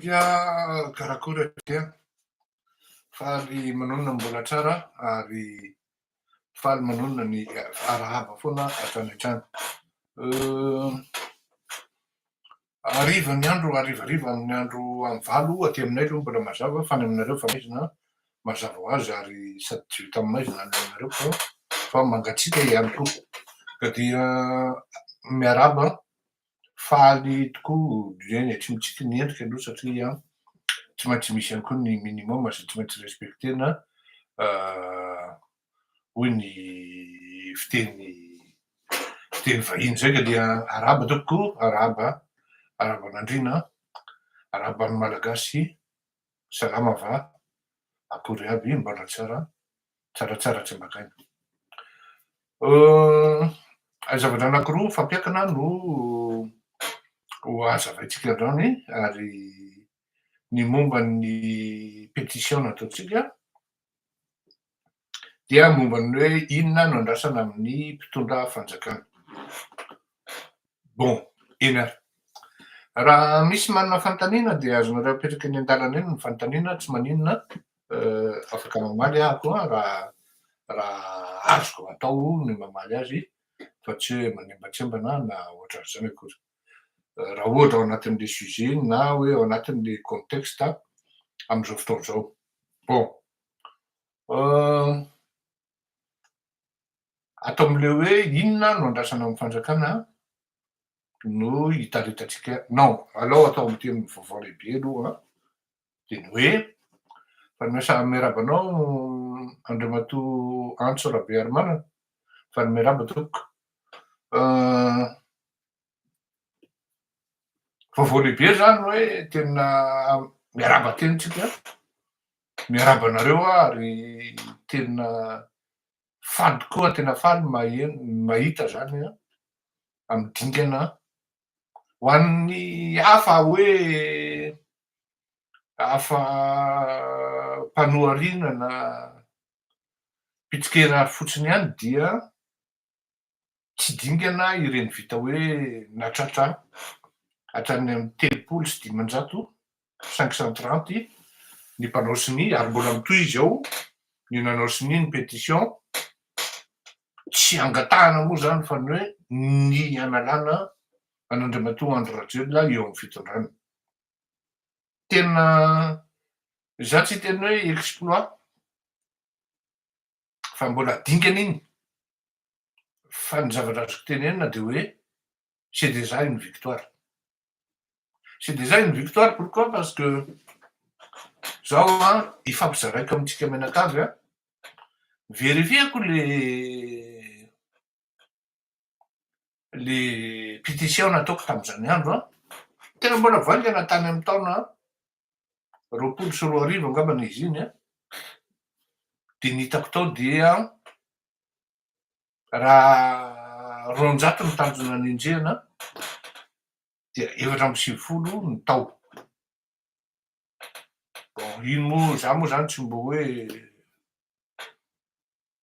Ya karakôry akia faly manonona mbola tsara ary faly manonona ny arahaba foana hatrany hatrany hariva ny andro harivariva amin'ny andro amin'ny valo aty aminay aloha mbola mazava fa any aminareo fa maizina mazava ho azy ary sady tsy vita amin'ny maizina any aminareo fa fa mangatsiaka ihany koa ka dia miarahaba faly tokoa Dieny e, tsy mitsiky ny endrika aloha satria tsy maintsy misy ihany koa ny minimum izay tsy maintsy respecter-na hoy ny fiteny fiteny vahiny izay ka dia arahaba tompoko, arahaba arahaban'Andriana, arahaban'ny Malagasy Salama va? Akory aby? Mbola tsara? Tsara tsara tsy maka aina. Euh, zavatra anakiroa fampiakina no ho hazavaintsika androany ary ny momba ny pétition nataontsika dia momba ny hoe inona no andrasana amin'ny mpitondra fanjakana. Bon, eny ary. Raha misy manana fanontaniana dia azonareo apetraka eny an-dalana eny ny fanontaniana, tsy maninona, afaka mamaly aho koa raha raha azoko atao ny mamaly azy fa tsy hoe manembatsembana na ohatran'izany akory. Raha ohatra ao anatin'ilay sujet na hoe ao anatin'ilay contexte amin'izao fotoana izao. Bon. Ato amin'ilay hoe inona no andrasana amin'ny fanjakana no hitaritantsika non alao atao amin'ny teny vaovao lehibe aloha dia ny hoe Fanimasahana miarahaba anao Andriamatoa Antso Rabearimanana Fanimarihaba tompoko Vaovao lehibe izany hoe tena miarahaba teny tsika, miarahaba anareo aho ary tena faly tokoa, tena faly ny maheno, ny mahita izany amin'ny dingana. Ho an'ny hafa hoe hafa mpanohariana na mpitsikera fotsiny ihany dia tsy dingana ireny vita hoe natratra hatrany amin'ny telopolo sy dimanjato, cinq cent trente, ny mpanao sonia ary mbola mitohy izy ao ny nanao sonia ny pétition, tsy angatahana moa izany fa ny hoe ny hanalana an'Andriamatoa Andry Rajoelina eo amin'ny fitondrana. Tena, izaho tsy hiteny hoe exploit, fa mbola dingana iny fa ny zavatra azoko tenenina de hoe c'est déjà une victoire c'est déjà une victoire pourquoi parce que zao a hifampizaraiko amintsika mianakavy a verifieko le le pétition nataoko tamin'izany andro an, tena mbola vaingana tany amin'ny taona roapolo sy roa arivo angambany izy iny an, dia ny hitako tao dia raha roanjato ny tanjona nenjehina dia efatra amby sivifolo ny tao, bon iny moa za moa zany tsy mba hoe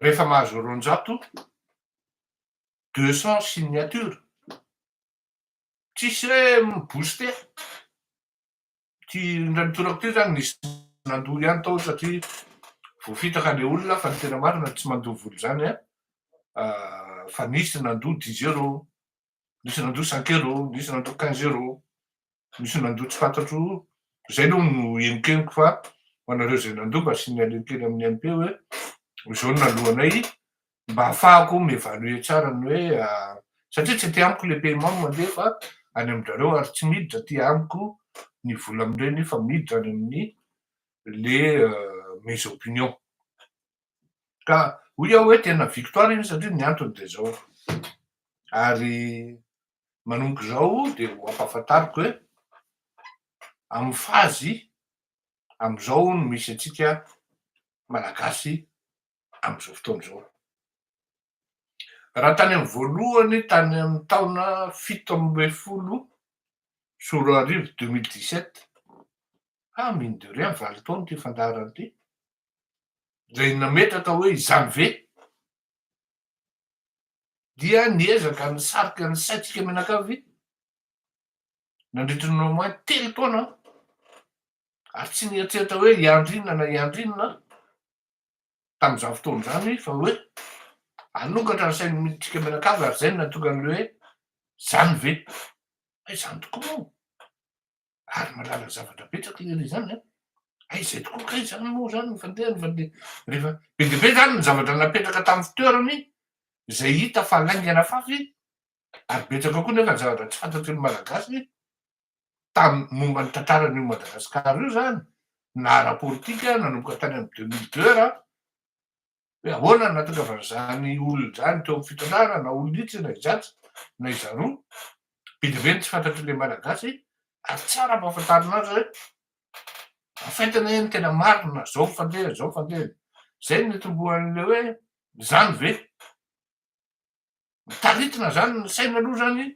rehefa mahazo roanjato, deux cents signatures, tsisy hoe mi-booster, ity indray mitoraka ity izany nisy nandoa ihany tao satria voafitaka ilay olona fa ny tena marina tsy mandoa vola izany an, fa nisy nandoa dix euros. nisy nandoa cinq euros, nisy nandoa quinze euros, nisy nandoa tsy fantatro, izay aloha no henokenoko fa ho anareo izay nandoa mba asian'ny aleo kely amin'ny MP hoe izao no naloanay mba hahafahako mi-evaluer tsara ny hoe satria tsy aty amiko le paiement no mandeha fa any amin-drareo ary tsy miditra aty amiko ny vola amin'ireny fa miditra any amin'ny le mes opinions. Ka hoy aho hoe tena victoire iny satria ny antony dia izao, ary manomboka izao dia ho ampahafantariko hoe amin'ny fazy amin'izao no misy antsika Malagasy amin'izao fotoana izao. Raha tany amin'ny voalohany tany amin'ny taona fito ambin'ny folo sy roa arivo deux mille dix sept, ah mine de rien valo taona ity fandaharana ity, izay nametraka hoe izany ve? dia niezaka nisarika ny saintsika mianakavy nandritry ny au moins telo taona aho ary tsy nieritreritra hoe hiandry inona na hiandry inona aho tamin'izany fotoana izany fa hoe hanokatra ny sain'ny midintsika mianakavy ary izay no nahatonga an'ilay hoe izany ve? fa izany tokoa moa ary mahalala zavatra betsaka izy ilay izany a! Aiza tokoa kay izany moa izany ny fandehany fa dia rehefa be dia be izany ny zavatra napetraka tamin'ny fitoerany izay hita fa laingana fafy ary betsaka koa nefa ny zavatra tsy fantatry ny Malagasy tamin'ny momba ny tantaran'io Madagasikara io izany na ara-politika nanomboka tany amin'ny deux mille deux raha Hoe ahoana no nahatongavan'izany olona izany teo amin'ny fitrandrahana na olona itsy na izatsy na izaroa. Be dia be ny tsy fantatr'ilay Malagasy ary tsara ampahafantarina azy hoe afainta anie ny tena marina, izao ny fandehany, izao ny fandehany. Izay no nitomboan'ilay hoe izany ve mitaritina izany ny saina aloha izany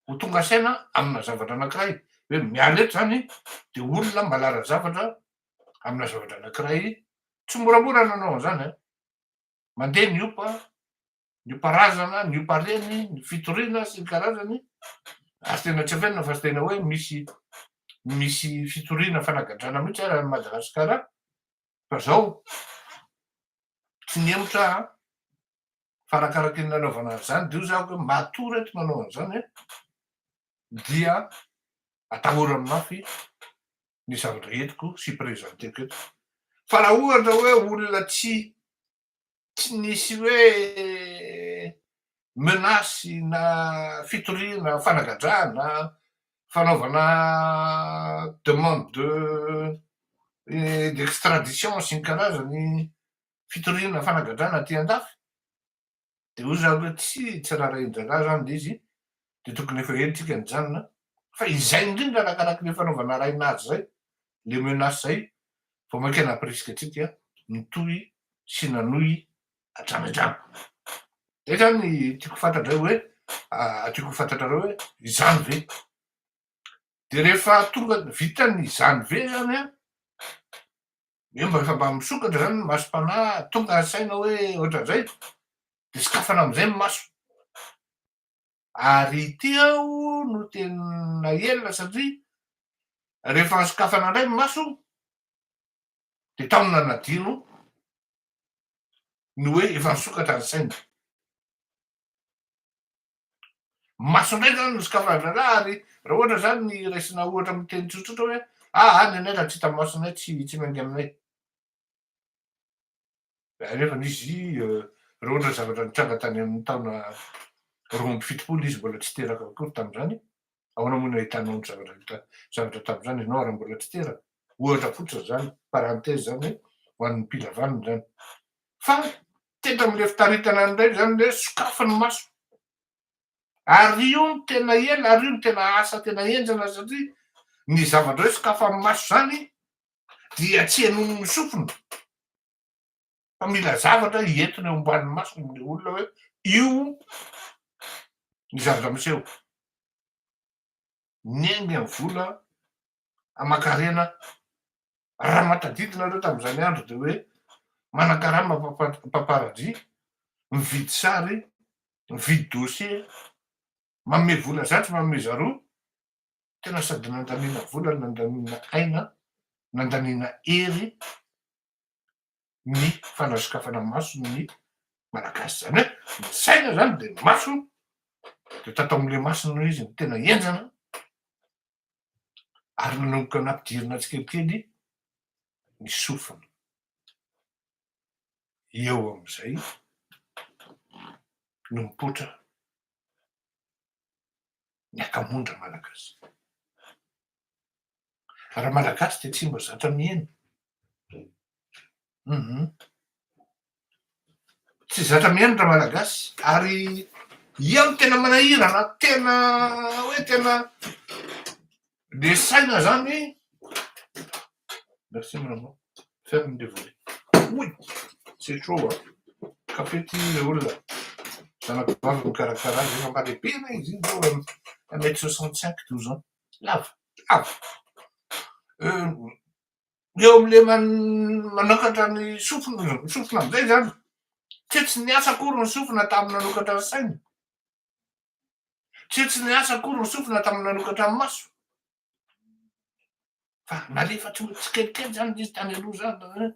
ho tonga saina amina zavatra anankiray hoe miala eto zany de olona malara zavatra amina zavatra anankiray tsy moramora ny nanao an'izany a mandeha ny opa ny oparazana ny opareny ny fitoriana sy ny karazany ary tena tsy afenina fa tena hoe misy misy fitoriana fanagadrana mihitsy ara ny madagasikara fa zao tsy ny hemotra fa arakaraka ny nanaovana azy izany dia hoy za hoe matoa reto manao an'izany an, dia atahorany mafy ny zavatra entiko sy presenteko eto. Fa raha ohatra hoe olona tsy tsy nisy hoe menace na fitoriana fanagadrana fanaovana demande de d'extradition sy ny karazany fitoriana fanagadrana aty an-dafy, dia hoy za hoe tsy tsy raharahin-draharaha izany ilay izy, dia tokony efa ela isika nijanona, fa izay indrindra arakaraka ilay fanaovana arahina azy izay, ilay menace izay vao mainka nampirisika antsika nitohy sy nanohy hatrany hatrany. Izay izany tiako ho fantatra indray hoe, tiako ho fantatrareo hoe izany ve? Dia rehefa tonga, vitan'ny izany ve izany an, Eo mba efa mba misokatra zany ny masom-panahy, tonga saina hoe ohatran'izay, dia sokafana amin'izay ny maso. Ary ity aho no tena ela satria rehefa sokafana indray ny maso dia tao no nanadino ny hoe efa nisokatra ny saina. Maso indray izany no sokafandrana ary raha ohatra izany ny raisina ohatra amin'ny teny tsotsotra hoe ah any anay raha tsy hita masonay tsy tsy miainga aminay. Nefa izy euh, raha ohatra zavatra nitranga tany amin'ny taona roa amby fitopolo izy mbola tsy teraka akory tamin'izany, ahoana moa no ahitanao ny zavatra hita zavatra tamin'izany ianao raha mbola tsy teraka? Ohatra fotsiny izany, parenthèse izany hoe ho an'ny mpila vaniny izany. Fa Tendry amin'ilay fitaritana indray izany hoe sokafy ny maso. Ary io no tena ela, ary io no tena asa tena henjana satria ny zavatra hoe sokafy amin'ny maso izany dia tsy henoiny ny sofiny fa mila zavatra hientona eo ambanin'ny mason'ny olona hoe io ny zavatra miseho. niainga ny vola aman-karena raha mahatadidina ireo tamin'izany andro dia hoe manan-karama mpamparadia, mividy sary, mividy dossier, manome vola zato, manome zaroa, tena sady nandaniana vola, nandaniana aina, nandaniana hery, ny fanasokafana maso ny Malagasy. Izany hoe ny saina izany dia ny maso, dia tato amin'ilay maso no izy no tena henjana ary nanomboka nampidirina tsikelikely ny sofina. Eo amin'izay no mipoitra ny akamon-dry Malagasy. Raha Malagasy dia tsy mba zatra miheno. Hum. Tsy zatra miheno raha Malagasy ary ian'ny tena manahirana, tena hoe tena Resaina zany merci mon amour ferme le volet oui c'est chaud a café ty le olona zanakivavy mikarakara azy efa mba lehibe anie izy iny zao un mètre soixante cinq douze ans lava lava eo amle manokatra ny sofina ny sofina amizay zany tsy tsy niasa akory ny sofina tamin'ny nanokatra ny saina Tsy tsy niasa akory ny sofina tamin'ny nanokatra ny maso. Fa nalefa tsy tsikelikely zany izy tany aloha zany.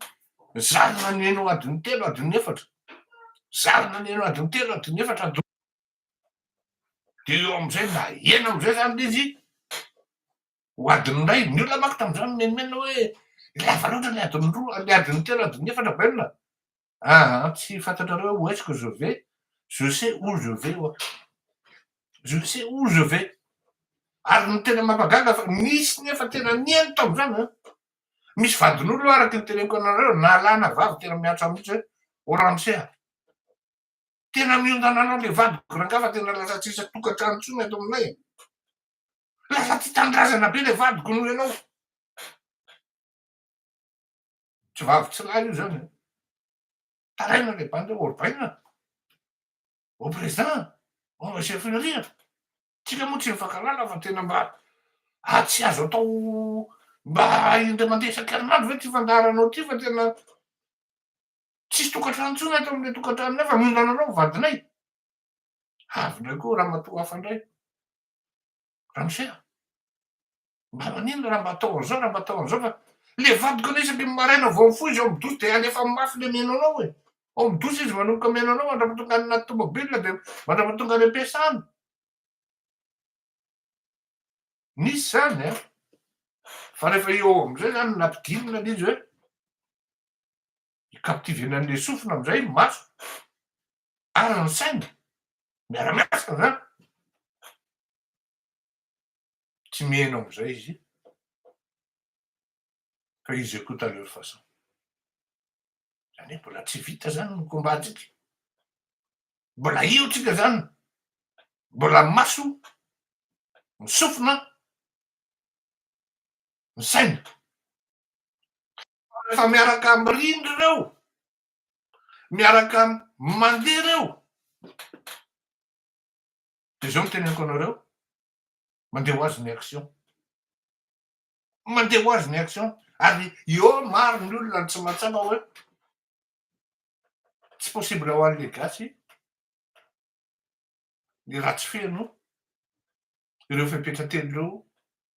Zarina ny eno adin'ny telo adin'ny efatra. Zarina ny eno adin'ny telo adin'ny efatra. Dia eo amin'izay na eno amin'izay zany izy ho adin'ny iray. Ny olona manko tamin'izany menomenona hoe lava loatra ny adin'ny roa, ny adin'ny telo adin'ny efatra bainina. Aha, tsy fantatrareo où est-ce que je vais? Je sais où je vais ho'a. Je sais où je vais. Ary ny tena mampagaga fa nisy nefa tena nihaino tamin'izany an! Misy vadin'olona araka ny teneniko anareo nalana vavy tena miantra mihitsy hoe ô ramose a! Tena miondana anao le vadiko rangah fa tena lasa tsisy tokantrano intsony eto aminay e! Lasa tia tanindrazana be le vadiko noho ianao. Tsy vavy tsy lahy io zany an! Taraina le bandy ao Orbaina, au président, au monsieur Filoria, tsika moa tsy mifankalala fa tena mba ah tsy azo atao mba indray mandeha isan-kerinandro ve ty fandaharanao ty fa tena tsisy tokantrano intsony eto amle tokantranonay fa mino anareo vadinay, avy ndray koa ramatoa hafa ndray. Ramosea, mba manino raha mba atao an'izao, raha mba atao an'izao fa le vadiko anie isaky ny maraina vao mifoha izy ao amin'ny douche dia alefa mafy le mihaino anao e. Ao amin'ny douche izy manomboka mihaino anao mandrapa tonga any anaty tomobile dia mandrapa tonga any am-piasana. Nisy izany an! Fa rehefa eo amin'izay izany nampidirina le izy hoe, i captive-na an'ilay sofina amin'izay ny maso, Ary ny saina miara-miasa izany. Tsy miheno amin'izay izy fa izy écoute à leur façon. Izany hoe mbola tsy vita izany ny combat-ntsika. Mbola io tsika izany. Mbola ny maso ny sofina ny saina. Fa rehefa miaraka mirindra ireo miaraka mandeha ireo dia zao no teneniko anareo mandeha ho azy ny action mandeha ho azy ny action ary eo maro ny olona tsy mahatsapa hoe tsy possible ho an'le gasy ny ratsy feno ireo fepetra telo ireo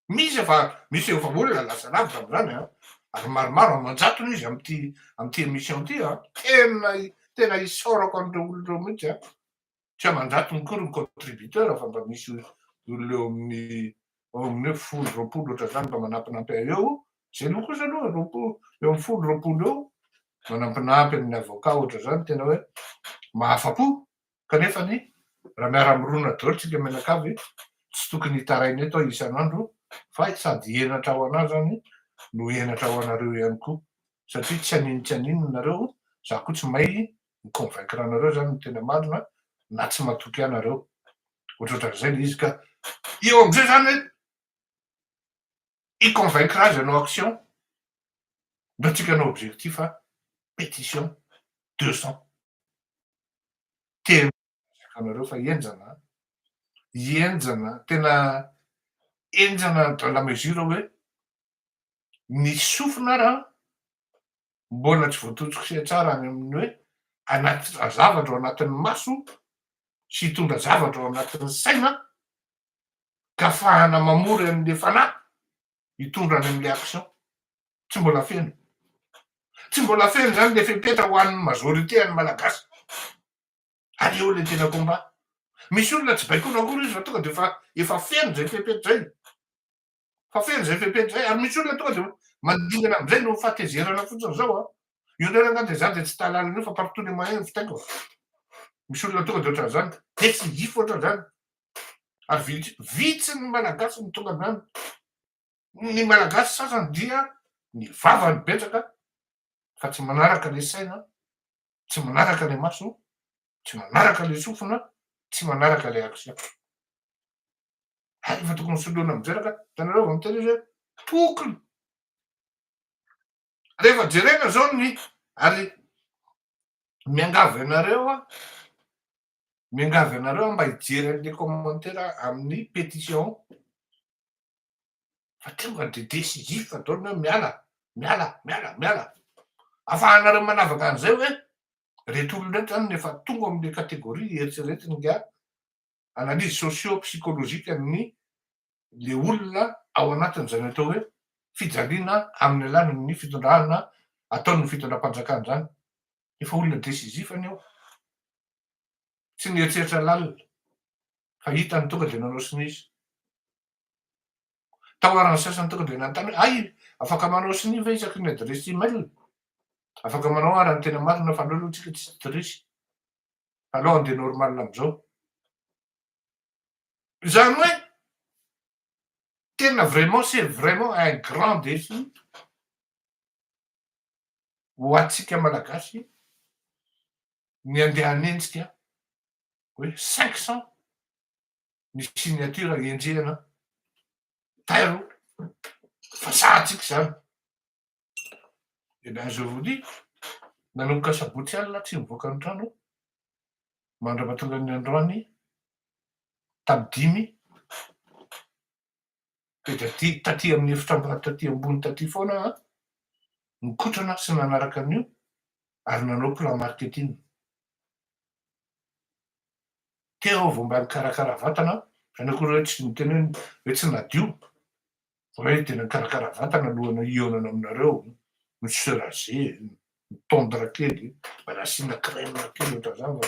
misy efa misy efa olona lasa lavitra amin'izany an, ary maromaro aman-jatony izy amin'ity amin'ity émission ity an, tena tena isaorako an'ireo olona ireo mihitsy an, tsy aman-jatony koa ny contributeurs fa mba misy olona eo amin'ny eo amin'ny hoe folo roapolo ohatr'izany mba manampinampy ahy eo, izay aloha kosa aloha roapolo eo amin'ny folo roapolo eo manampinampy amin'ny avocat ohatr'izany tena hoe mahafa-po. Kanefa anie, raha miara-mirona daholo isika mianakavy, tsy tokony hitaraina eto aho isan'andro fa sady henatra ho an'ahy izany no henatra ho anareo ihany koa, satria tsy anino tsy anino ianareo, izaho koa tsy may mi-convaincre anareo izany ny tena marina na tsy matoky ahy nareo. Ohatrohatran'izay ilay izy ka eo amin'izay izany hoe hi-convaincre azy hanao action, ndao tsika hanao objectif a, pétition deux cents. tena miezaka anareo fa henjana an! Henjana, tena henjana dans la mesure hoe ny sofina ary an, mbola tsy voatontosika tsara any amin'ny hoe hanatitra zavatra ao anatin'ny maso sy hitondra zavatra ao anatin'ny saina ka afahana mamory an'ilay fanahy hitondra any amin'ilay action. Tsy mbola feno. Tsy mbola feno izany ilay fepetra ho an'ny majorité an'ny Malagasy. Ary eo ilay tena combat. Misy olona tsy baikoina akory izy fa tonga dia efa efa feno izay fepetra izay. Fa feno izay fepetra izay. Ary misy olona tonga dia mandingana amin'izay no fahatezerana fotsiny izao a. Io indray angah dia za dia tsy tahalala an'io fa par tous les moyens ny fitaiko. Misy olona tonga dia ohatran'izany. Dia tsy hifo ohatran'izany. ary vitsy ny Malagasy no tonga avy any. Ny Malagasy sasany dia ny vava no betsaka fa tsy manaraka ilay saina, tsy manaraka ilay maso, tsy manaraka ilay sofina, tsy manaraka ilay action. Hay efa tokony soloina amin'izay raka, hitanareo vao miteny izy hoe tokony. Rehefa jerena izao ny ary miangavy anareo aho Miangavy anareo mba hijery an'ilay commentaire amin'ny pétition fa tonga ny dia décisif fa ataony hoe miala, miala, miala, miala. Afahanareo manavaka an'izay hoe reto olona reto zany efa tonga amin'ny catégorie eritreretina nga analyse socio psychologique an'ny le olona ao anatin'izany atao hoe fijaliana amin'ny alalan'ny fitondrana ataon'ny fitondram-panjakana zany. Efa olona decisif anie aho. Tsy nieritreritra lalina fa hitany tonga dia nanao sinizy. Taoaran'ny sasany tonga dia nanontany hoe hay afaka manao sinia ve isaky ny adiresy email? Afaka manao ara ny tena marina fa aleo aloha tsika tsy trisy. Fa aleo andeha normal amizao. Izany hoe tena vraiment c'est vraiment un grand défi ho antsika Malagasy ny andeha hanenjika hoe cinq cent ny signature henjehina tairo fa sahantsika izany eh bien je vous dis nanomboka sabotsy alina tsy nivoaka ny trano mandra-pahatongan'ny androany tamin'ny dimy Dia taty, taty amin'ny efitram-bary taty ambony taty foana aho an, nikotrana sy nanaraka an'io ary nanao plan marketing. Teo aho vao mba nikarakara vatana an, izany akory hoe tsy niteny hoe hoe tsy nadio, fa hoe tena nikarakara vatana alohan'ny hihaonana aminareo, ni se raser, ni tondre kely, mba nasiana crème kely ohatr'izany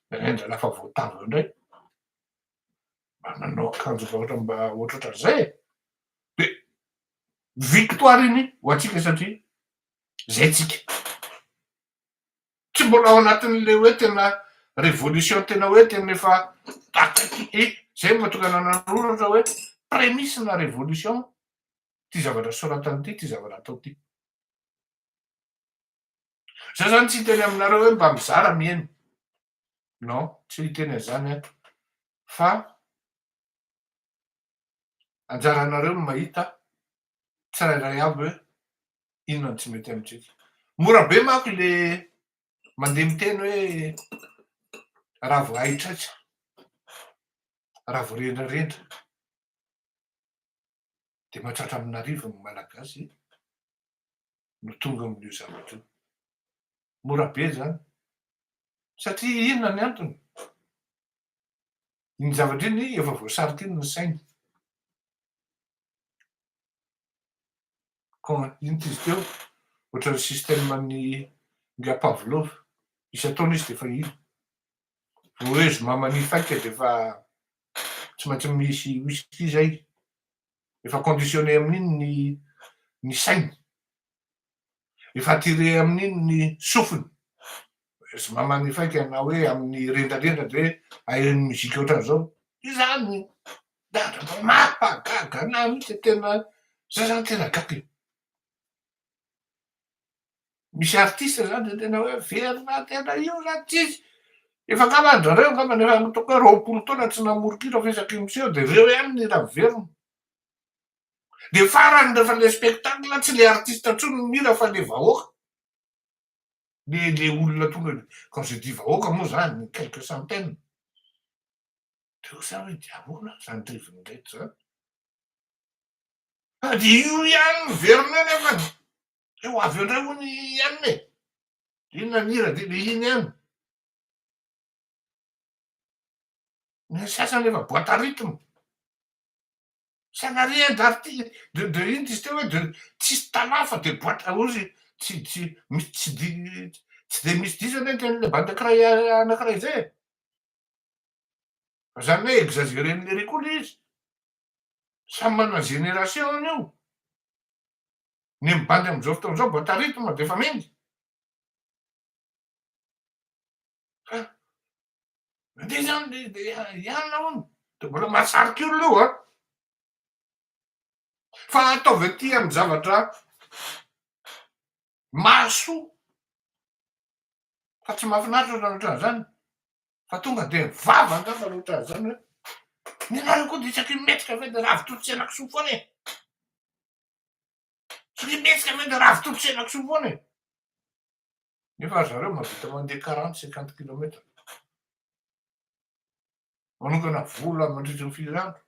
fa indraindray lasa voatavo eo indray. mba nanao akanjo vahoatra mba ohatrohatran'izay e! de victoire iny ho antsika satria zay tsika tsy mbola ao anatin'le hoe tena révolution tena hoe tena efa akaiky e! zay mba tonga nanaroratra hoe prémice na révolution ty zavatra soratany ty ty zavatra atao ty za zany tsy hiteny aminareo hoe mba mizara mihaino non tsy niteny an'izany aho fa anjaranareo ny mahita tsirairay avy hoe inona no tsy mety amintsika. Mora be manko ilay mandeha miteny hoe raha vao haitraitra, raha vao rendrarendra dia mahatratra amin'arivony ny Malagasy. no tonga amin'io zavatra io. Mora be izany. Satria inona ny antony? Iny zavatra iny efa voasarika iny ny sainy. Ka inona izy teo? Ohatran'ny système an'ny nga Pavlov. Isan-taona izy dia efa iny. Voahezo maman'ny faika dia efa tsy maintsy misy whisky izay. Efa conditionné amin'iny ny ny sainy. Efa attiré amin'iny ny sofiny. Tsy mba manifaika ianao hoe amin'ny rendrarendra ve ahiran'ny mozika ohatran'izao. Izany mampagaga anahy mihitsy tena, zay zany tena gaga e. Misy artiste zany zay tena hoe verina tena io zany tsisy, efa angamba an-drareo angamba efa ataoko hoe roapolo taona tsy namoron-kira fa isaky ny miseho dia reo ihany ny hira miverina, dia farany rehefa le spectacle tsy le artiste intsony no mihira fa le vahoaka, le le olona tonga de quand je dis vahoaka moa zany quelques centaines, de osa hoe dia ahoana zany rivony reto zany. Sady io ihany no verina eo nefany dia ho avy eo indray hono i anona e! Inona ny hira dia dia iny ihany. Ny sasany efa boite à rythme. Ça n'a rien d'arti- de de inona izy teo hoe de tsisy tana fa dia boite à ozy tsy tsy misy tsy di- tsy dia misy diso anie ny tenin'ilay bande ankiray anankiray izay e! Fa izany hoe exagere-n'i Lery koa ilay izy. Samy manana génération ny eo. Ny mibandy amin'izao fotoana izao boite à rythme dia efa mendy. Fa mandeha izany dia hianona hono. Dia mbola mahasarika olona io an! Fa ataovy aty amin'ny zavatra mahasoa fa tsy mahafinaritra ohatran'ny ohatran'izany. fa tonga dia vava angamba ny ohatran'ny izany hoe ny anao io koa dia isaky ny mihetsika ve dia ravitolo sy henakisoa foana e! Isaky ny mihetsika ve dia ravitolo sy henakisoa foana e! Nefa ry zareo mahavita mandeha quarante cinquante kilomètre, manokana vola mandritra ny firy andro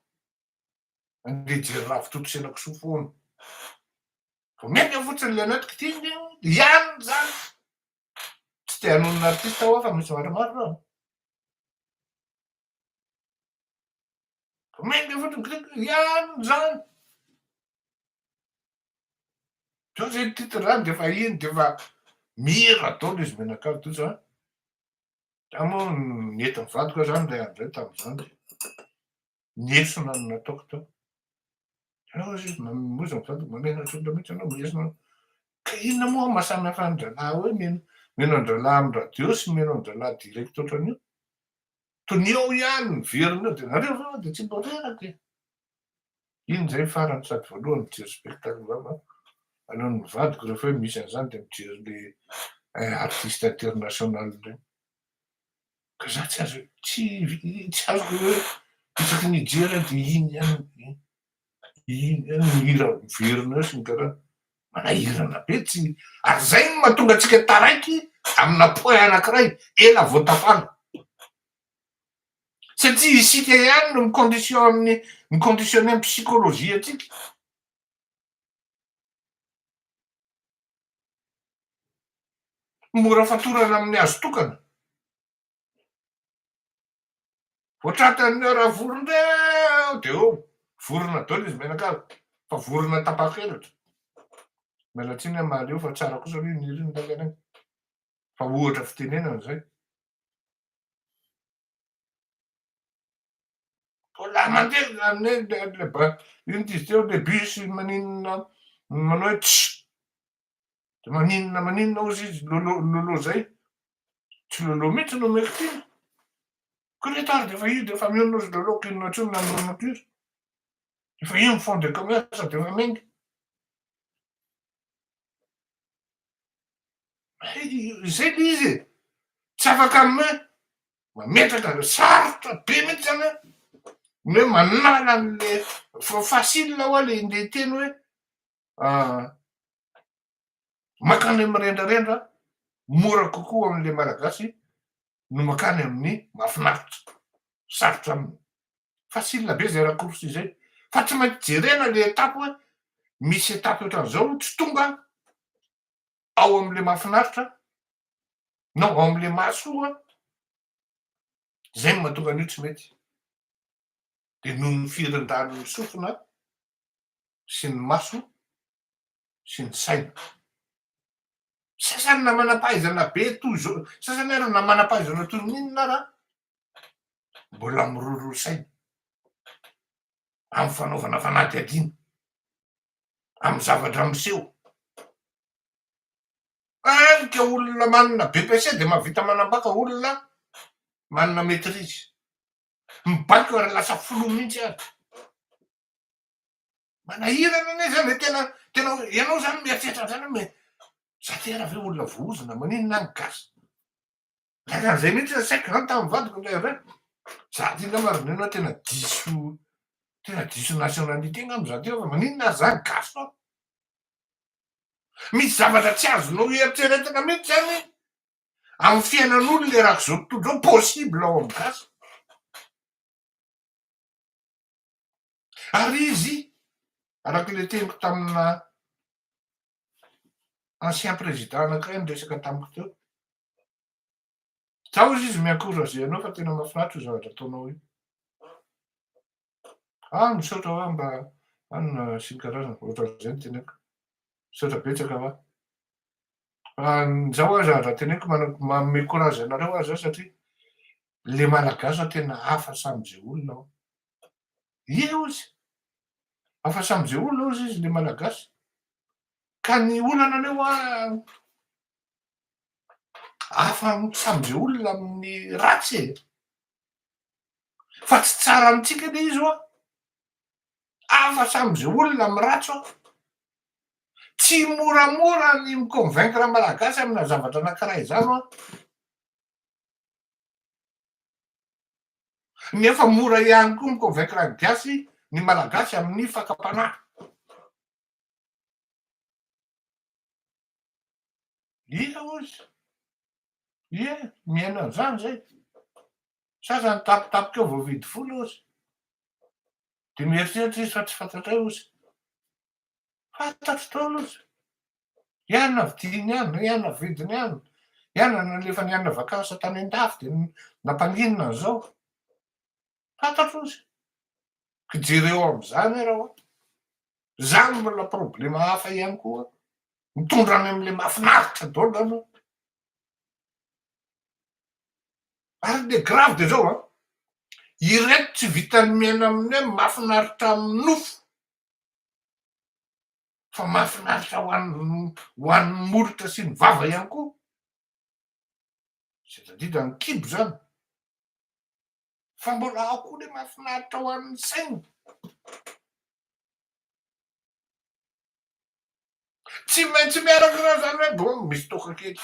handeha hijery ravitoto sy henakisoa foana. Vao miainga fotsiny ilay anaty kitihiny dia hiany izany. Tsy dia hanohy ny artista ho'a fa misy zavatra maro aloha. Mainka fotsiny clip ihany izany. Zao izay titre izany dia efa iny dia efa mihira daholo izy mianakavy tojo a. Za moa nentin'ny vadiko aho izany ilay andro izay tamin'izany dia Ny hesona no nataoko tao. Ianao hozy izy mamoza ny vadiko, mamela trondro mihitsy ianao, ny hesona. Ka inona moa maha samy hafa an-drahalahy hoe mino mino an-drahalahy amin'ny radio sy mino an-drahalahy direct ohatran'io? Tonia ao ihany ny veriny eo dia nareo ve dia tsy mba reraka e! Iny izay farany sady voalohany mijery spectacle vava alohan'ny ny vadiko rehefa hoe misy an'izany dia mijery le artiste international ireny. Ka za tsy azo tsy tsy azoko hoe isaky ny hijery aho de iny ihany iny ihany no hira miverina eo sy ny tariny. Manahirana be tsy ary zay no mahatonga antsika taraiky amina point anakiray ela vao tafala satria isika ihany no mi-conditionne mi-conditionner ny psychologie antsika. Mora fatorana amin'ny hazo tokana. Vao tratran'ny ora vorona eo dia eo, vorona daholo izy mianakavy fa vorona tapakelatra. Miala tsiny amin'ny maha-leo fa tsara kosa aloha io niriny lainganay fa ohatra fitenenana izay. Mbola mandeha zany le ba inona izy teo le bus maninona manao hoe tsy de maninona maninona ozy izy lolo lolo zay tsy lolo mihitsy no omeko teny ko le tary de efa izy de efa mionona ozy lolo ko inona tsony na mionona ko izy efa iny fond de commerce de efa menga Izay le izy e! Tsy afaka ny hoe mametraka an'le sarotra be mihitsy zany hoe ny hoe manala an'le fa facile ho'a le indray hiteny hoe mankany amin'ny rendrarendra mora kokoa ho an'le Malagasy no mankany amin'ny mahafinaritra, sarotra aminy. facile be zay raccourci zay fa tsy maintsy jerena le étape hoe misy étape ohatran'izao tsy tonga ao amin'le mahafinaritra na ao amin'le mahasoa zay no mahatonga an'io tsy mety de noho ny firindrany ny sofina sy ny maso sy ny saina sasany na manam-pahaizana be toy izao sasany ary na manam-pahaizana toy ny inona ara mbola miroro saina amin'ny fanaovana fanadihadiana amin'ny zavatra miseho ary ka olona manana BEPC dia mahavita manambaka olona manana maîtrise mibaiko ary lasa filoha mihitsy ary manahirana anie zany e tena tena hoe ianao zany mieritreritra an'izany hoe mais za tena ve olona voahozona maninona aho no gasy Tena zay mihitsy le saiko zany tamin'ny vadiko ndray avy any. Za ty ngamba ry neny tena diso tena diso nationalité ngamba za ty fa maninona ary zany gasy foana. Misy zavatra tsy azonao eritreretina mihitsy zany amin'ny fiainan'olo le raha zao tontolo zao possible ao amin'ny gasy. Ary izy araka le teniko tamina ancien président anankiray niresaka tamiko teo Za ozy izy mi-encourager anao fa tena mahafinaritra io zavatra ataonao io. Ah, misaotra hoa mba anona sy ny karazana, ohatran'izay ny teneko. Misaotra betsaka hoa. Fa za hoa za raha teneko manome courage anareo hoa za satria le malagasy hoa tena hafa sam'izay olona hoa. Ie ozy, hafa sam'izay olona ozy izy le malagasy. Ka ny olana anay hoa Hafa ny mitsambika olona amin'ny ratsy e! Fa tsy tsara amintsika ilay izy ho'a! Hafa samy izay olona amin'ny ratsy ho'a! Tsy moramora ny mi-convaincre ny Malagasy amina zavatra anankiray izany ho'a! Nefa mora ihany koa mi-convaincre ny Gasy, ny Malagasy amin'ny fakam-panahy. Iza hoy izy? Ie, mihaino an'izany izay. Sasany tapitapika eo vao mividy vola hoy izy. Dia mieritreritra izy fa tsy fantatray hoy izy. Fantatro daholo hoy izy. Ihany navidiany ihany, ihany navidiny ihany, ihany nalefany hianana vakansa tany an-dafy dia nampanginina an'izao. Fantatro izay. Ka jereo amin'izany ary aho an! Izany mbola problema hafa ihany koa an! Mitondra any amin'ilay mahafinaritra daholo izany an! Ary le grave dia izao an! Ireto tsy vitan'ny miaina amin'ny hoe mahafinaritra amin'ny nofo fa mahafinaritra ho an'ny ho an'ny molotra sy ny vava ihany koa. Sendra indrindra ny kibo izany. fa mbola ao koa le mahafinaritra ho an'ny saina. Tsy maintsy miaraka raha zany hoe bon misy toaka kely.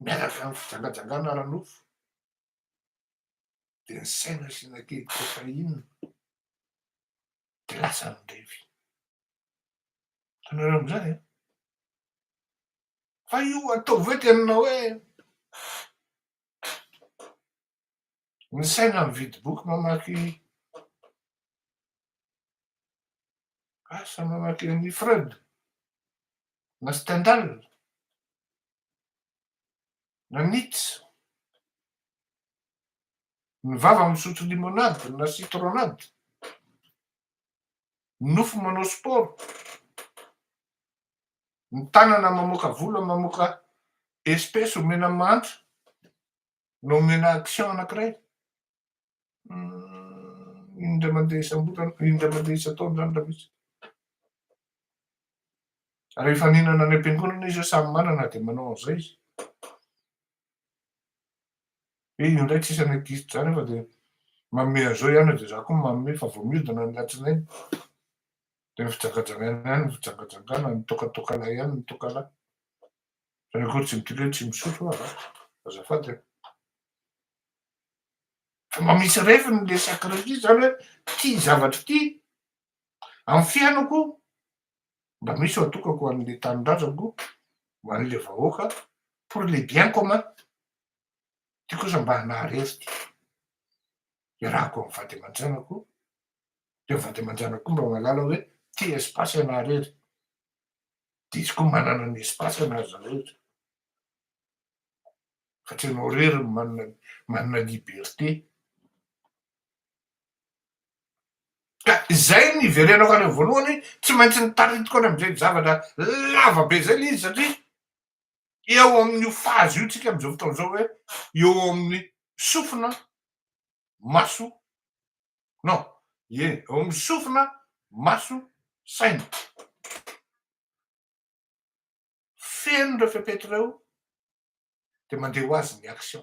Miaraka amin'ny fijangajangana ara-nofo. Dia ny saina asiana kely cocaïne. dia lasa andevy. Hitanareo amin'izay an? Fa io atao ve tena hoe ny saina mividy boky mamaky asa mamaky an'i Freud na Stendhal na Nietzsche Ny vava misotro limonade na citronade. Ny nofo manao sport. Ny tanana mamoaka vola mamoaka espèce omena ny mahantra na omena action anankiray. Indray mandeha isam-bolana, indray mandeha isan-taona izany raha misy. Rehefa nihinana any am-piangonana izy eo samy manana dia manao an'izay izy. He io ndray tsisy any agisitra zany fa de manome an'zao ihany de za koa manome fa vao miodina ny latsinainy de ny fijangajangana ihany ny fijangajangana ny tokatokalahy ihany ny tokalahy fa ny akory tsy midika hoe tsy misotro oa za azafady a fa mba misy refiny le sacre-ly zany hoe ty zavatra ty amin'ny fiainako Mba misy ho atokako ho an'ilay tanindrazako, ho an'ilay vahoaka, pour les biens communs. Ty kosa mba naharesy ty. Iarahako amin'ny vady aman-janako, dia ny vady aman-janako koa mba mahalala hoe tia espace ianareo rehetra. Dia izy koa manana ny espace anareo rehetra. Fa tsy ianao irery no manana manana liberté. Ka izay niverenako any amin'ny voalohany, tsy maintsy nitaritiko any amin'izay zavatra lava be izay ilay izy satria eo amin'io phase io tsika amin'izao fotoana izao hoe eo amin'ny sofina, maso, non, ie, eo amin'ny sofina, maso, saina. Feno ireo fepetra ireo dia mandeha ho azy ny action.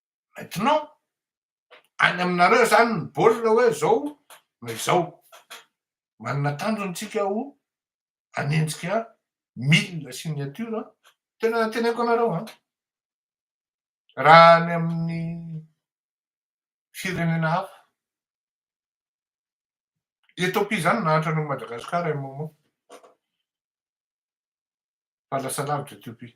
Maintenant, any aminareo zany ny baolina hoe zao na izao. Manana tanjona tsika ho hanenjika mille signature, tena teneniko anareo an! Raha any amin'ny firenena hafa, Ethiopie zany nahantra an'i Madagascar un moment, fa lasa lavitra Ethiopie.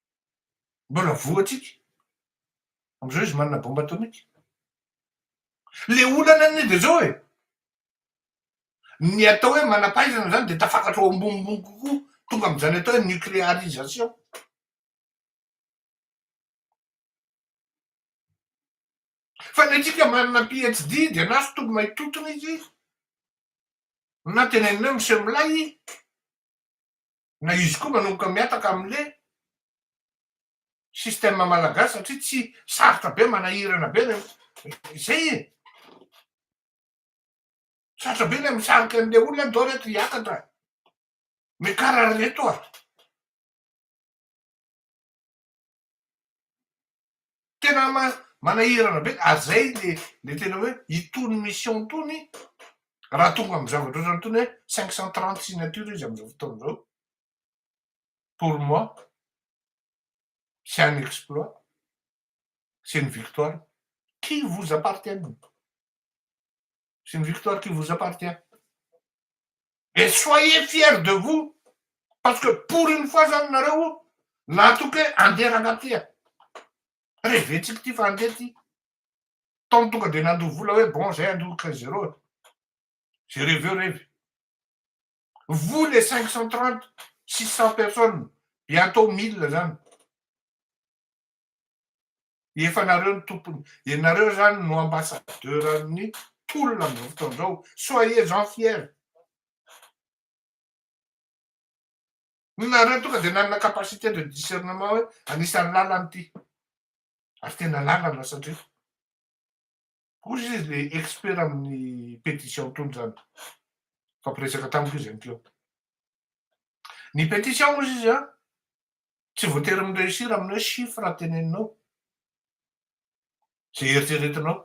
Mbola voatsika. Amizao izy manana bomba atomika. Le olana anie de zao e, ny atao hoe manampahaizana zany de tafakatra ao ambonimbony kokoa, tonga amizany atao hoe nuclearisation. Fa ny antsika manana PHD de na sotro may totona izy na teneninao miseho milay, na izy koa manomboka mihataka amle système malagasy satria tsy sarotra be manahirana be le zay e sarotra be le misarika anle olona ndao reto hiakatra mekara reto a Tena manahirana be ary zay le tena hoe itony mission itony raha tonga amin'ny zavatra ohatrany itony hoe cinq cent trente signature izy amin'izao fotoana izao pour moi c'est un exploit c'est une victoire qui vous appartiennent C'est une victoire qui vous appartient. Et soyez fiers de vous, parce que pour une fois zany nareo natoky hoe andeha ranga ty a. Reventsika ty fa andeha ty. Tao tonga dia nandoa vola hoe bon zay andoa quinze zéro. J'ai rêvé au rêve. Vous les 530, 600 personnes, bientôt 1000 zany. Efa nareo no tompony, ianareo zany no ambassadeur an'ny tolona amzao fotoana zao, soyez en fier. Nareo tonga de nanana capacité de discernement hoe anisan'ny lalana ity, ary tena lalana satria ozy izy le expert amin'ny pétition tony zany, nifampiresaka tamiko izy ankeo. Ny pétition ozy izy an, Tsy voatery mi reussir amin'ny hoe chiffre teneninao, izay eritreretinao.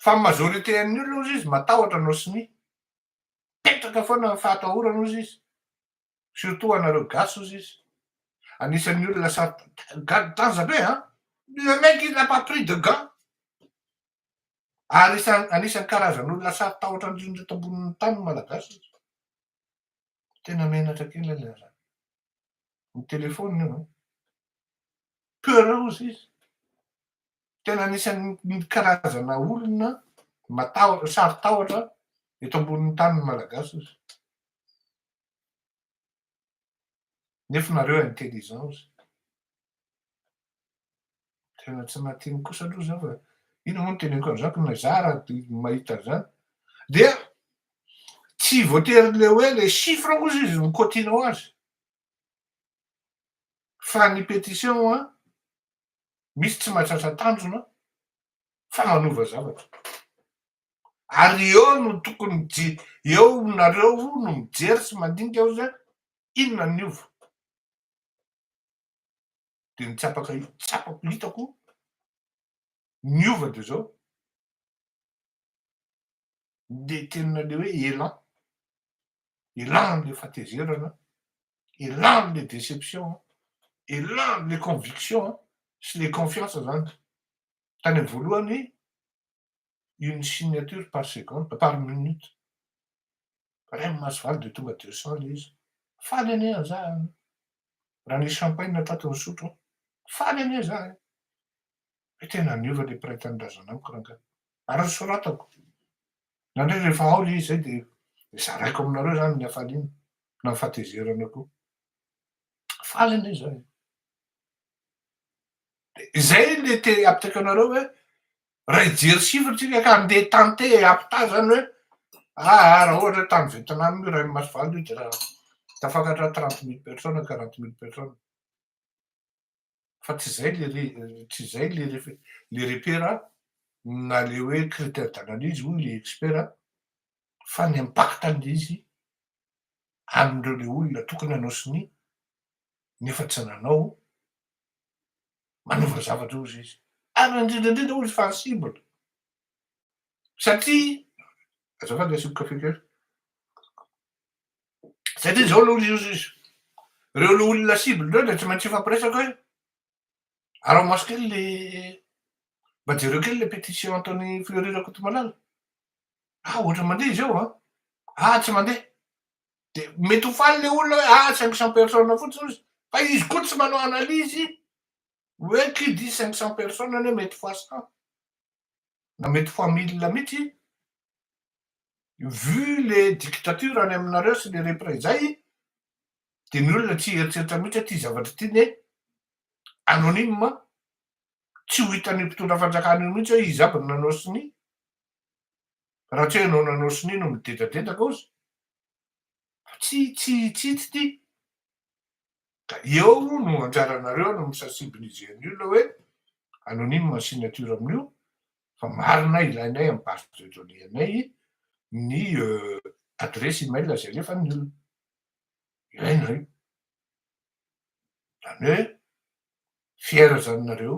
Fa ny majorité an'ny olona ozy izy matahotra anao sy ny. Mipetraka foana amin'ny fahatahorana ozy izy, surtout anareo gasy ozy izy. Anisan'ny olona sar gad tanja be an! Le mec il n'a pas pris de gant! Ary isan anisan'ny karazan'olona saro tahotra indrindra eto ambonin'ny tany ny malagasy ozy. Tena menatra kely ilay raharaha. Ny téléphone io an. Peureuse izy. Tena anisan'ny karazana olona matahotra, saro-tahotra eto ambonin'ny tany ny Malagasy izy. Nefa nareo intelligent izy. Tena tsy mahateny kosa aloha zany fa ino moa no teneniko an'izany fa na za raha te mahita an'izany dia tsy voatery le hoe le chiffre kosa izy no cotinao azy fa ny pétition a misy tsy mahatratra tanjona fa manova zavatra ary eo no tokony je eo nareo no mijery sy mandinika hoe inona ny hova dia ny tsapaka tsapako hitako niova dia zao dia tenina le hoe elan elan le fatezerana elan le déception elan le conviction sy le confiance zany tany am voalohany une signature par seconde, par minute, ray Masivaly dia tonga deux cents ilay izy, faly anie an za an, raha nisy champagne atraty nisotro aho, faly anie za an, hoe tena niova ilay mpiray tanindrazana amiko rangahy, ary nosoratako, nandrey rehefa ao ilay izy izay dia zaraiko aminareo izany ny hafaliana na ny fahatezerana koa, faly anie za an, dia izay ilay te apitaka anareo hoe Raha hijery chiffre tsika ka andeha tenter hampitaha zany hoe aa raha ohatra hoe tany Vietnam io raha Imasovalo io dia tafakatra trente mille personnes quarante mille personnes fa tsy zay le tsy zay le le repère a na le hoe critère d'analyse hoy le expert a fa ny impact an'le izy amindreo le olona tokony hanao sonia nefa tsy nanao manova zavatra ozy izy ary indrindraindrindra ozy fa cible satria azafady asiako kafe kely satria zao aloha izy ozy izy reo le olona cible reo de tsy maintsy hifampiresaka hoe arao maso kely le mba jereo kely le pétition ataon'i Fleury Rakotomalala ah ohatra mandeha izy eo an ah tsy mandeha De mety ho faly le olona hoe ah cinq cents personnes fotsiny ozy fa izy koa tsy manao analyse hoe qui dit cinq cents personnes anie mety fois cent na mety fois mille mitsy vu le dictature any aminareo sy le repre zay de ny olona tsy hieritreritra mitsy hoe ty zavatra ty ne anonyme tsy ho hitan'ny mpitondra fanjakana io mitsy hoe izy aby no nanao sonia Raha tsy hoe ianao nanao sonia no midedradedaka ao izy. Fa tsy tsy tsy ito ity. Ka eo no anjaranareo any amin'ny sensible GNU le hoe anonyme ny signature amin'io fa marina ilainay amin'ny base de données anay ny adresse email izay alefan'ny olona. Ilaina io. Izany hoe fiera izany nareo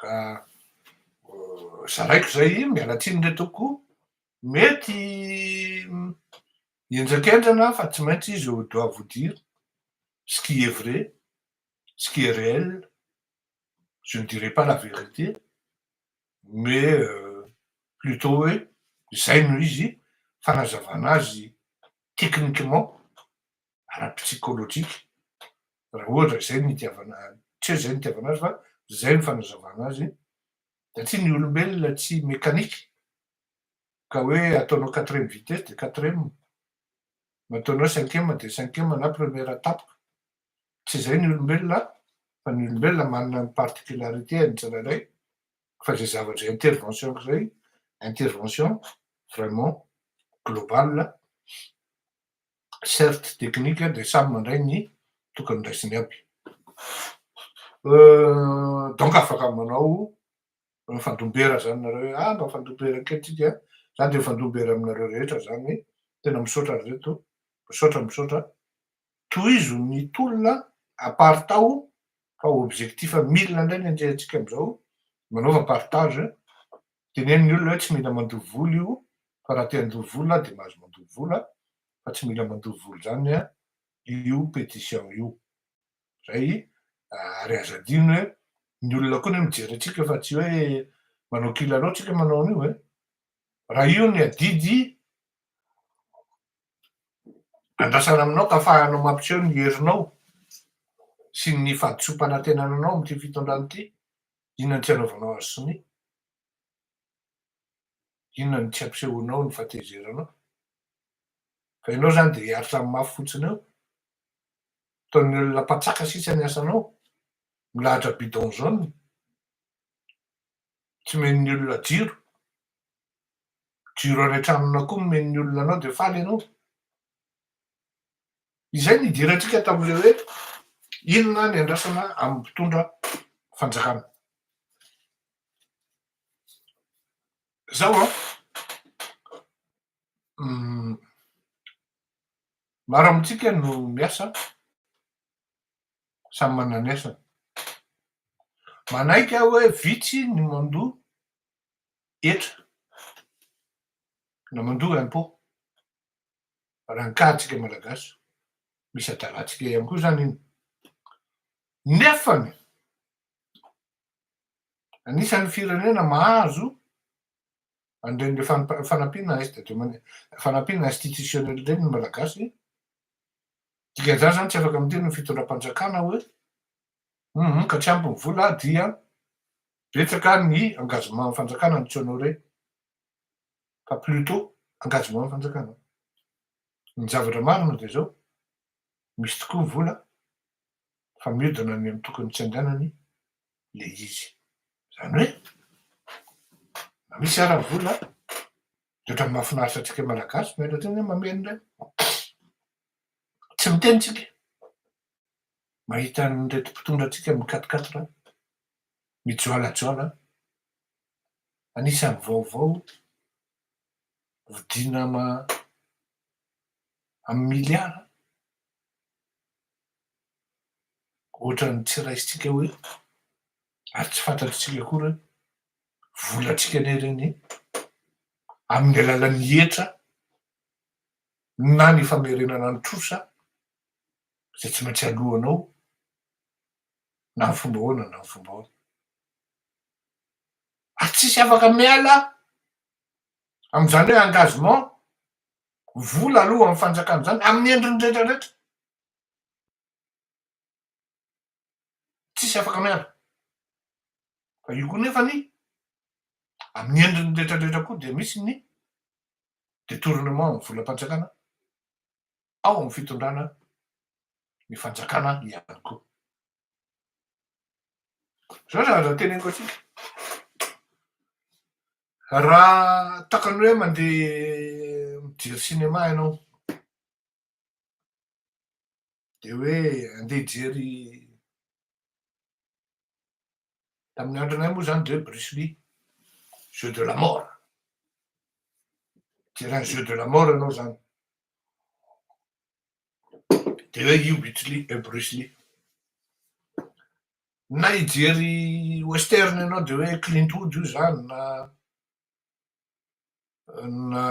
Ka zaraiko izay miala tsiny re tompoko, mety henjakenjana aho fa tsy maintsy izy je dois vous dire ce qui est vrai, ce qui est réel, je ne dirai pas la vérité mais plutot hoe izay no izy, fanazavana azy techniquement. ara-psychologique raha ohatra izay no itiavana, tsy hoe izay no itiavana azy fa izay no fanazavana azy satria ny olombelona tsy mécanique ka hoe ataonao quatrième vitesse dia quatrième, nataonao cinquième dia cinquième na première tapaka, tsy izay ny olombelona an! fa ny olombelona manana ny particularité-ny tsirairay fa izay zavatra izay intervention-ko izay intervention vraiment globale. Certes technique dia samy mandray ny tokony raisiny aby. Donc afaka manao mifandombera zany nareo hoe ah mba mifandombera kely tsika an! Za dia mifandombera aminareo rehetra zany, tena misaotra ry reto, misaotra misaotra, tohizo ny tolona aparitao fa objectif mille indray ny andriantsika amizao, manaova partage Teneno ny olona hoe tsy mila mandoa volo io fa raha te handoa volo aho dia mahazo mandoa volo aho fa tsy mila mandoa volo zany an io petition io zay ary aza adino hoe ny olona koa ny mijery atsika fa tsy hoe manao kilalao tsika manao an'io e raha io ny adidy andrasana aminao ka fahanao mampiseho ny herinao sy ny fahadisoam-panatenananao amin'ity fitondrana ity Inona ny tsy anaovanao an'i Sonia? Inona ny tsy ampisehoanao ny fahatezeranao? Fa ianao izany dia hiaritra amin'ny mafy fotsiny eo? Ataon'ny olona mpatsaka sisa ny asanao? Milahatra bidon jaune? Tsy men'ny olona jiro? Jiro any an-tranonao koa no men'ny olona anao dia faly ianao? Izay no idirantsika tamin'ilay hoe inona ny andrasana amin'ny mpitondra fanjakana. Zao an, maro amintsika no miasa, samy manana ny asany. Manaiky aho hoe vitsy ny mandoa hetra na mandoa impôt. raha ankahantsika Malagasy, misy adalantsika ihany koa izany iny. Nefany, anisan'ny firenena mahazo an'ireny fanampiana fanampiana institutionnel ireny ny Malagasy, dikan'izany izany tsy afaka miteny ny fitondram-panjakana hoe hum ka tsy ampy ny vola dia betsaka ny engagement-n'ny fanjakana mi-tsy honorer fa plutot engagement ny fanjakana. Ny zavatra marina dia izao, misy tokoa ny vola fa miodina any amin'ny tokony tsy handehanany ilay izy. Izany hoe na misy ara vola dia ohatran'ny mahafinaritra antsika malagasy miaina teny hoe mamely indray. Tsy miteny tsika mahita an'ireto mpitondra antsika mikatokatoka mijoalajoala Anisan'ny vaovao vidina amin'ny miliara, ohatran'ny tsy raisintsika eo eto ary tsy fantatr'isika akory hoe volantsika anie ireny amin'ny alalan'ny hetra na ny famerenana ny trosa izay tsy maintsy aloanao na ny fomba ahoana na ny fomba ahoana. ary tsisy afaka miala amin'izany hoe engagement vola aloa amin'ny fanjakana izany amin'ny endriny rehetra rehetra, tsisy afaka miala fa io koa nefa ny amin'ny endriny rehetra rehetra koa dia misy ny detournement amin'ny volam-panjakana ao amin'ny fitondrana ny fanjakana ihany koa. Izao zavatra noteneniko antsika, raha takany hoe mandeha mijery cinéma ianao, dia hoe andeha hijery, tamin'ny andronay moa izany dia hoe Bruce Lee, jeu de la mort, hijery an'i jeu de la mort ianao izany. Dia hoe io Bruce Lee, eh, Bruce Lee. Na hijery western ianao dia hoe Clint Eastwood io izany na na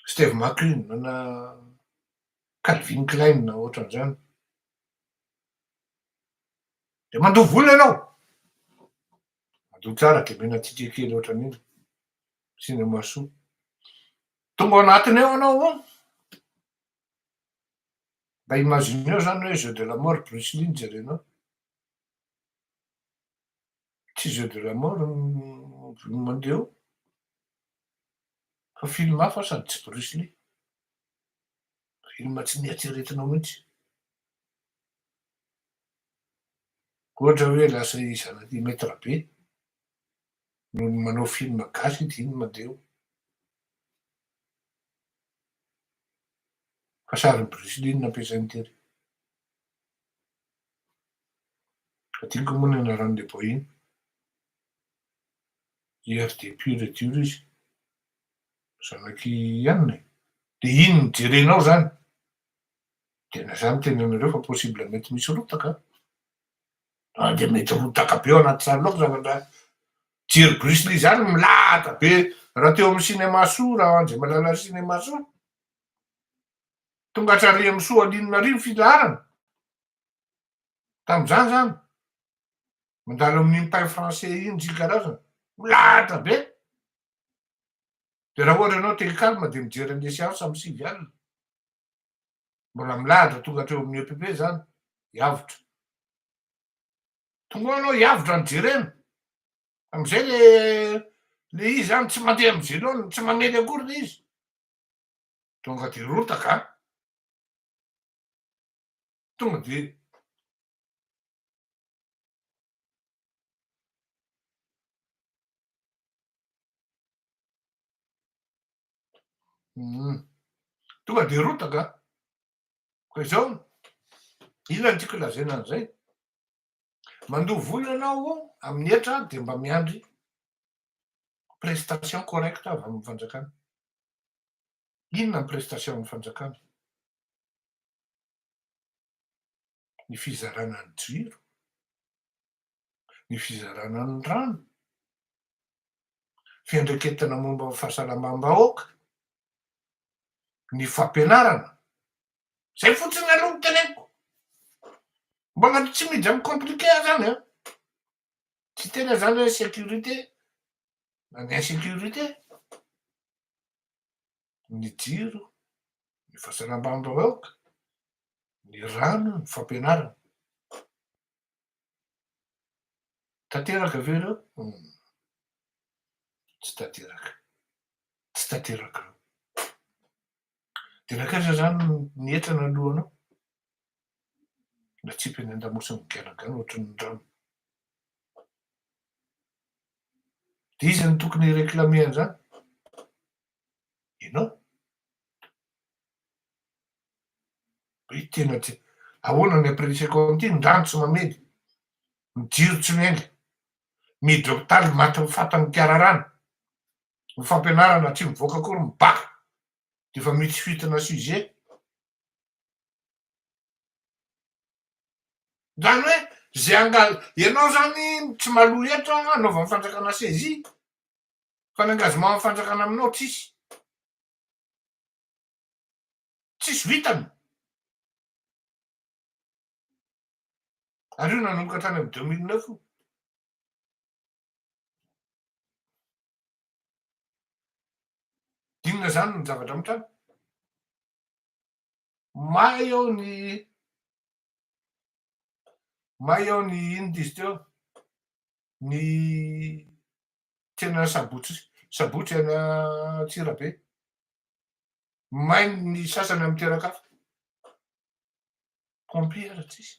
Steve McQueen na Calvin Klein na ohatran'izany. Dia mandoa vola ianao. Mandoa tsara dia omena ticket kely ohatran'iny. Cinéma Sous. Tonga ao anatiny ao anao an! Mba imagineo zany hoe jeux de la mort Bruce Lee no jerenao. Tsy jeux de la mort no mandeha ao fa film hafa sady tsy Bruce Lee. Film tsy nieritreretinao mihitsy. Ohatra hoe lasa i zanaky i Maitre Be Noho ny manao film gasy ity no mandeha eo. Fa sarin'i Bruce Lee no nampiasainy tery. Adinoko moa ny anaran'ilay boina. IRD pur et dur izy. Zanak'i Anne e. Dia iny no jerenao izany. Dia na izaho miteny anareo fa possible mety misy rotaka an. Zany dia mety rotaka be ao anaty tranonao ny zavatra Jerry Bruce Lee zany milahatra be raha teo amin'ny cinéma soa raha Andriamalala cinéma soa tonga hatrany Rihamisoa Alinona ary ny filaharana tamin'izany zany mandalo amin'ny impay français iny ziny karazana milahatra be dia raha ohatra ianao te hi calme dia mijery an'ilay séance amin'ny sivy alina Mbola milahatra tonga hatreo amin'ny EPP izany, hiavotra. Tonga ao ianao hiavotra ny jerena. Amin'izay le le izy zany tsy mandeha amin'ny zilony, tsy mamely akory le izy. Tonga dia rotaka. Tonga dia Hmm. Tonga dia rotaka. Koa izao, ila ny tiako lazaina an'izay. Mandoa vola ianao amin'ny hetra dia mba miandry prestation correcte avy amin'ny fanjakana. Inona ny prestation amin'ny fanjakana? ny fizarana ny jiro, ny fizarana ny rano, fiandraiketana momba ny fahasalamam-bahoaka, ny fampianarana. Izay fotsiny aloha no teneniko. Mbana tsy miditra amin'ny compliqué aho zany an! Tsy tena zany hoe sécurité na ny insécurité. ny jiro, ny fahasalamam-bahoaka, ny rano, ny fampianarana. Tanteraka ve ireo? Hum. Tsy tanteraka. Tsy tanteraka ireo. Dia nankaiza izany ny hetra nalohanao? Natsipy any an-damosiny miganagana ohatry ny rano. Dia iza no tokony hi-reclamer an'izany? ianao. Hoe tena tsy, ahoana ny après l'essai comte, ny rano tsy mamely, ny jiro tsy miainga, mihidy hopitaly maty ny fata ny mpiara rano, ny fampianarana tsy mivoaka akory ny bac dia efa mitsy fitina sujet. Zany hoe ze angal, ianao zany tsy maloha hetra anaovan'ny fanjakana saisie. Fa ny engagement ny fanjakana aminao tsisy. Tsisy vitany. Ary io nanomboka tany amin'ny deux mille neuf io. Inona izany ny zavatra mitranga? Mahay ao ny May aho ny inn dizy teo ny tena sabotsy sabotsy any Antsirabe. May ny sasany amin'ny toeran-kafa. Compris ara tsisy.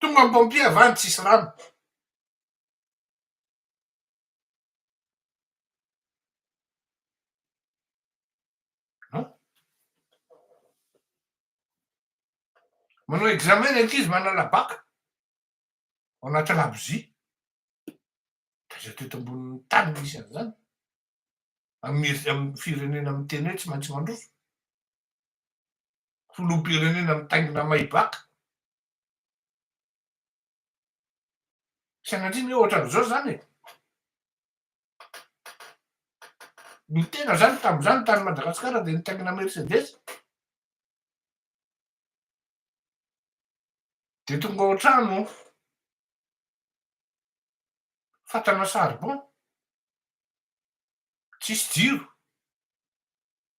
Tonga ny pompier avy any tsisy rano. An? Manao examen ny ankizy manala bac ao anaty labozia. Taiza teto ambonin'ny tany no misy an'izany? Amin'ny firenena miteny hoe tsy maintsy mandroso. filoham-pirenena mitaingina Maybach. Sanatria ny hoe ohatran'izao izany e! Ny tena izany tamin'izany tany Madagasikara dia nitaingina Mercedes. Dia tonga ao an-trano fatana charbon, tsisy jiro.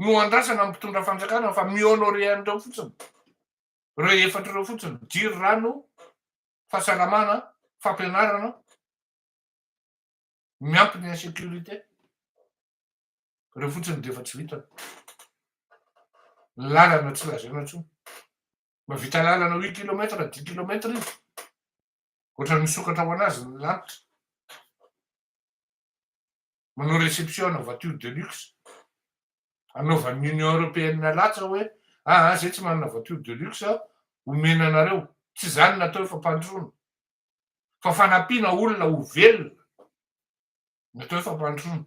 no andrasana ny mpitondra fanjakana fa mi-honorer an'ireo fotsiny, ireo efatra ireo fotsiny, jiro, rano, fahasalamana, fampianarana, miampy ny insécurité, ireo fotsiny dia efa tsy vitany. Ny lalana tsy lazaina intsony. Mahavita lalana huit kilomètre na dix kilomètre izy, ohatran'ny misokatra ho an'azy ny lanitra. manao reception ana voiture de luxe, anaovan'ny Union Européenne latsa hoe aa zay tsy manana voiture de luxe aho, omena anareo, tsy zany natao fampandrosoana fa fanampiana olona ho velona no atao hoe fampandrosoana.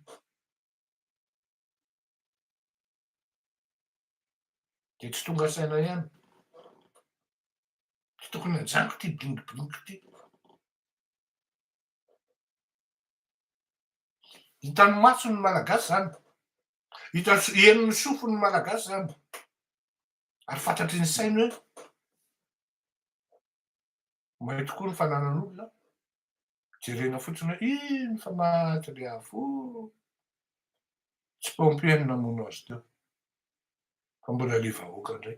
Dia tsy tonga saina ihany. Tsy tokony hajanko ity bling bling ity. Hitan'ny mason'ny Malagasy izany. Hitan'ny henon'ny sofin'ny Malagasy izany. Ary fantatry ny sainy hoe mahay tokoa ny fananan'olona. Jerena fotsiny hoe iny fa maty le afo. Tsy pompier ny namono azy teo. Fa mbola le vahoaka indray.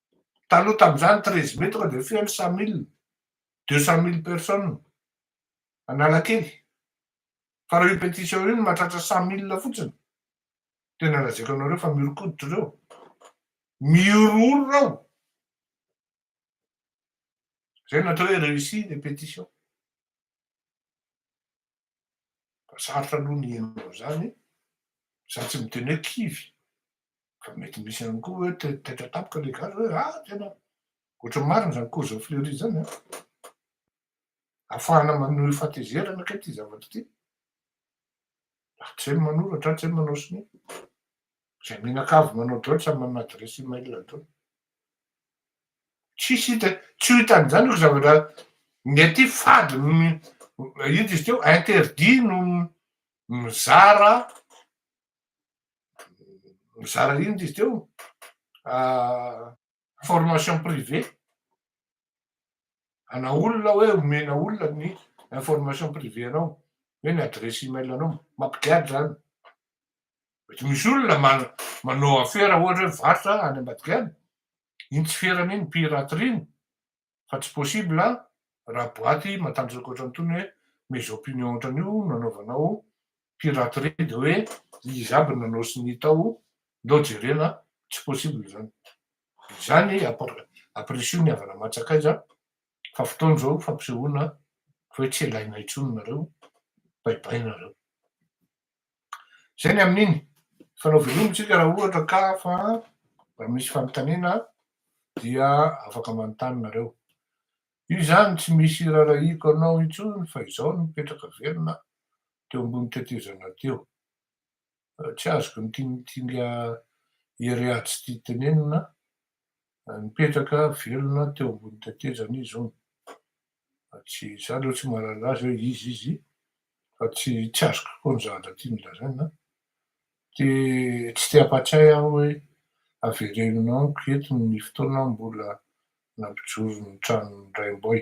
Taloha tamin'izany treize mai tonga dia feno cent mille, deux cent mille personnes Analakely. Fa raha io pétition io no mahatratra cent mille fotsiny, tena lazaiko anareo fa mihoron-koditra ireo. Mihorohoro ireo. Izay no atao hoe réussi ny pétition. Ka sarotra aloha ny hino an'izany sady tsy miteny hoe kivy. Ka mety misy ihany koa hoe te taitra tampoka ilay gasy hoe ah tena ohatry ny marina izany cours fleury izany an. Afahana manohy fatezerana kay ity zavatra ity. Raha tsy hay ny manoratra, tsy hay ny manao sonia. Izay menaka avy manao drôle samy manana adiresy email dôly. Tsisy hita, tsy ho hita an'izany io zavatra ny aty fady no ino izy teo interdit no mizara mizara ino izy teo ah, formation privée. Ana olona hoe omena olona ny information privé anao hoe ny adresse email anao mampigadra zany mety misy olona manao afera ohatra hoe varotra any ambadigadra iny tsy ferana iny piraterie iny fa tsy possible an raha boaty matanjaka ohatrany tony hoe mes opinions ohatrany io no anaovanao piraterie de hoe izy aby nanao sy ny tao ndao jerena tsy possible zany Ary izany ampirisiho ny havana aman-tsakaiza fa fotoana izao fampisehoana fa hoe tsy ilaina intsony nareo, baibaina nareo. Izay ny amin'iny. Fa nao veloma tsika raha ohatra ka fa raha misy fanontaniana dia afaka manontany nareo. Io izany tsy misy rarahiako anao intsony fa izao no mipetraka velona teo ambony tetezana teo. tsy azoko ny tingitinga ery aho tsy tia tenenina, nipetraka velona teo ambony tetezana izy hono, tsy za aloha tsy mahalala azy hoe iza izy fa tsy tsy azoko koa ny zavatra tiany lazaina, dia tsy te hampatsiahy aho hoe avereno amiko eto ny fotoana mbola nampijoro ny tranon'i Raimboay.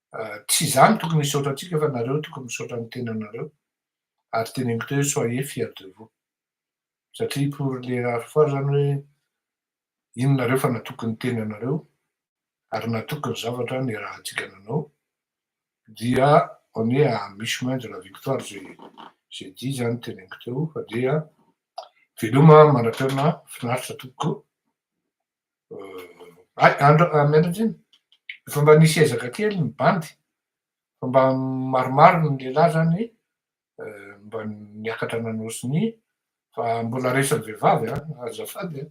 Tsy izaho no tokony hisaotra antsika fa nareo no tokony misaotra ny tenanareo ary teneniko teo hoe soyez fiers de vous satria pour les rares fois izany hoe iny nareo fa natoky ny tenanareo ary natoky ny zavatra niarahantsika nanao dia on est à mi chemin de la victoire j'ai j'ai dit izany teneniko teo fa dia veloma Mandrapihaona finaritra tompoko. Ay, andra, miandry andriny, efa mba nisy ezaka kely ny bandy, fa mba maromaro ny lehilahy zany mba niakatra nanao sonia, fa mbola resan'ny vehivavy an, azafady an,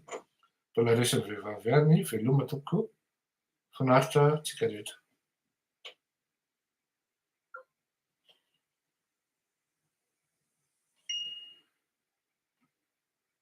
mbola resan'ny vehivavy ihany, veloma tompoko, finaritra antsika rehetra.